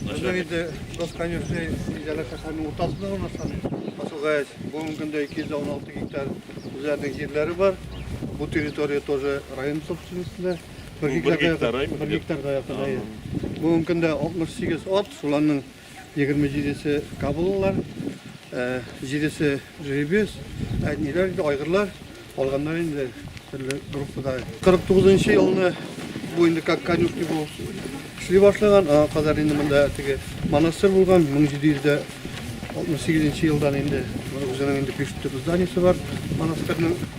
Безнең инде Дос Конюшный Иҗәлә шәһәренең уртасында урнашкан Асылгач, бүгенге көндә 216 гектар үзләренең җирләре бар. Бу территория тоже район собственностенда. Бер гектарга якын. Бүгенге көндә 68 ат, шуларның 27 се кабылылар, 7 э, се жеребец, ә ниләр инде айгырлар алганнар инде төрле группада. 49 елны бу инде как конюшни бу эшли башлаган, аңа кадәр инде монда теге монастырь булган 1768 елдан инде үзенең инде пишет зданиесе бар монастырьның.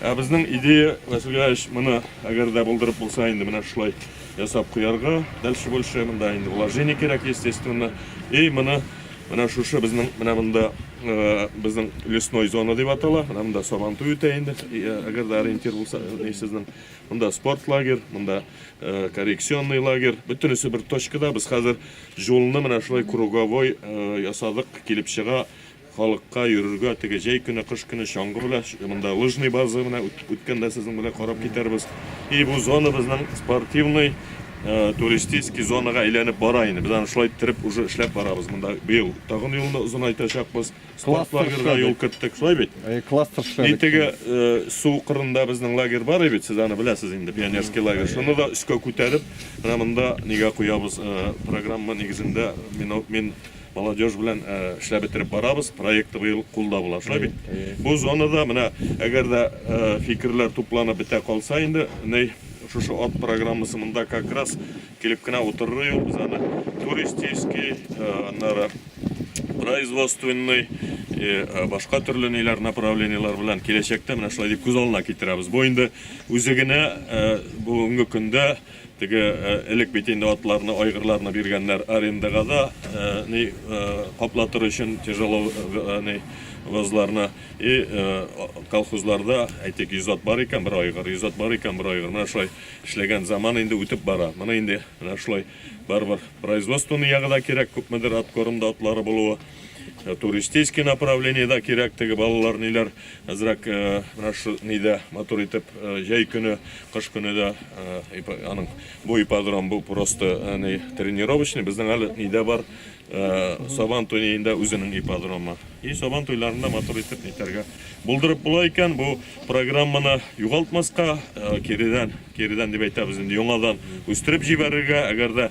Ә безнең идея, Василий Ильич, моны әгәр дә булдырып булса инде менә шулай ясап куярга. Дальше больше монда инде вложение кирәк, естественно. И моны менә шушы безнең менә монда э, безнең лесной зона дип атала. Менә монда Сабантуй үтә инде. Э, әгәр дә ориентир булса, э, сезнең монда спорт лагерь, монда коррекционный лагерь. Бөтенесе бер точкада. Без хәзер жолны менә шулай круговой ясадык, килеп чыга. Халыкка йөрергә теге җәй көне, кыш көне чаңгы белән, монда лыжный база, менә үткәндә сезнең белән карап китәрбез. И бу зона безнең спортивный туристический зонага әйләнеп бара инде. Без аны шулай иттереп уже эшләп барабыз. Монда быел тагын юлны озынайтачакбыз. Спорт лагерьга юл керттек, шулай бит? Әйе, кластер эшләдек. И теге су кырында безнең лагерь бар бит, сез аны беләсез инде, пионерский лагерь. Шуны да өскә күтәреп, менә монда нигә куябыз, программа нигезендә мин Молодежь белән эшләп бетереп барабыз, проекты быел кулда була, шулай бит? Бу зонада менә әгәр дә фикерләр тупланып бетә калса инде, ней шушы ат программасы монда как раз килеп кенә утырыр юк, без аны туристический, аннары производственный, башка төрле ниләр направлениеләр белән киләчәктә менә шулай дип күз алдына китерәбез. Бу инде үзе генә бүгенге көндә Теге элек бит инде атларны, айгырларны биргәннәр арендага да, ни, каплатыр өчен тяжело, ни, возларны. И колхозларда, әйтик, 100 ат бар икән, бер айгыр, 100 ат бар икән, бер айгыр. Менә шулай эшләгән заман инде үтеп бара. Моны инде менә шулай барыбер производственный ягы да кирәк, күпмедер аткорымда атлары булуы. Э, туристический направление да кирәк теге балалар ниләр әзрәк э, менә шу нидә матур итеп э, җәй көне кыш көне дә аның бу ипподром бу просто не тренировочный безнең әле нидә бар сабан туенда үзенең ипподромы и сабан туйларында матур итеп нитәргә булдырып була икән бу программаны югалтмаска киридән киридән дип әйтәбез инде яңадан үстереп җибәрергә әгәр дә